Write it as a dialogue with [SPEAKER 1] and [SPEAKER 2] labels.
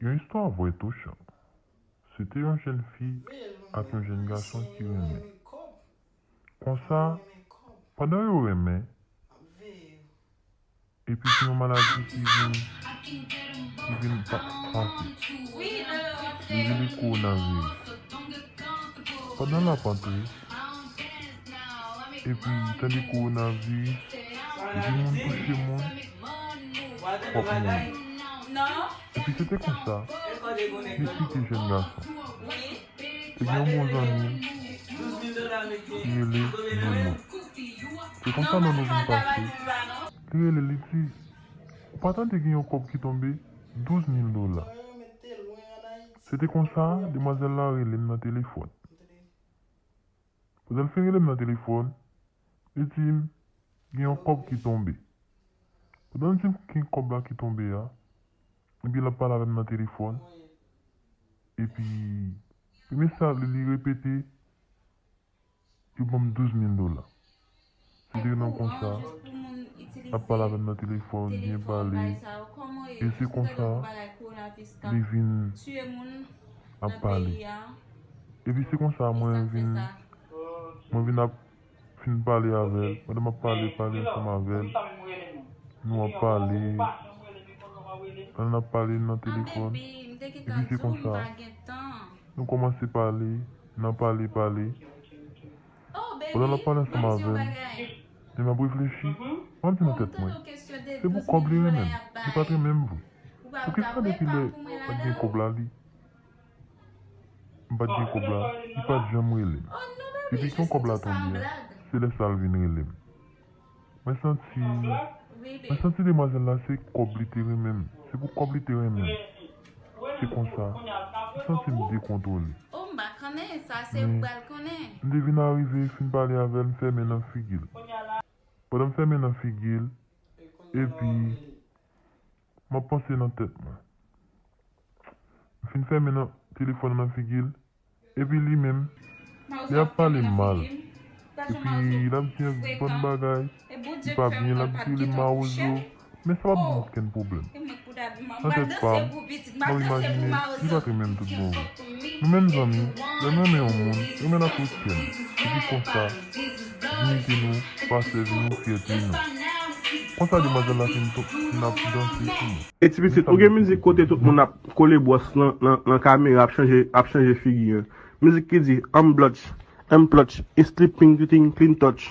[SPEAKER 1] Yon istwa vrè touchan. Se te yon jenn fi ak yon jenn gason ki renmen. Konsa, pandan yo renmen, epi gen yon maladi ki vin, ki vin pa, pase. Yo rele kowonaviris. Pandan l ap antre, epi tande kowonaviris, depi moun touche moun, w ap mouri. Epi se te konsa, Jesi te jèn gason. Ebyen bon zanmim rele Nono. Se konsa Nono vin pase. Li rele li di, ou pa tande gen yon kòb ki tonbe 12 mil dola. Se te konsa demwazèl la relem nan telefòn. Pandan l fin relem nan telefòn, li dim gen yon kòb ki tonbe. Pandan l dim gen kòb la ki tonbe a. Epi lap pale avèm nan telefòn epi premye sa li repete yo banm 12 mil dola se te nan konsa lap pale avèm nan telefòn byen pale e se konsa li vin ap pale epi se konsa mwen vin mwen vin ap Fin pale avè l. Pandan m ap pale, pale ansanm avè l. Nou ap pale. Pandan n ap pale nan telefòn. Epi se konsa. Nou kòmanse pale. Nan pale, pale. Pandan l ap pale ansanm avè m. Epi m ap reflechi. M ap di nan tèt mwen, Se pou kòb li renmen m. Li pa t renmen m vre. Poukisa depi lè pa t gen kòb la li M pat gen kòb la, li pat janm rele m. Epi kon kòb la tonbe a, se lè sa l vin rele m. Mwen santi, mwen santi demwazèl la se kòb li te renmen m, se pou kòb li te renmen m. Se konsa, m santi m dekontwole.
[SPEAKER 2] Men, m te vin arive
[SPEAKER 1] fin pale avè l m fè men nan figi l. Pandan m fè men nan figi l, epi, M ap panse nan tèt mwen. M fin fèmen nan telefòn nan nan figi l. Epi li menm, li ap pale m mal. Epi l ap di yon bann bagay ki pa byen, l ap rele m mawozo. Men sa pa t ban m okenn pwoblèm. Nan tèt pa m, m ap imajine li pa t renmen m toutbonvre. Nou menm zanmi, lè n renmen yon moun, renmen l ak tout kè n, epi konsa, diyite nou, pasèvi nou, fyète nou. Konsa demwazèl la fin ap danse sou nou. E ti pitit, ou gen mizik
[SPEAKER 3] kote tout moun ap kole bwòs nan kamera ap chanje figi an. Mizik ki di, Anm blòch, Anm plòch, It's sleeping, Clean touch.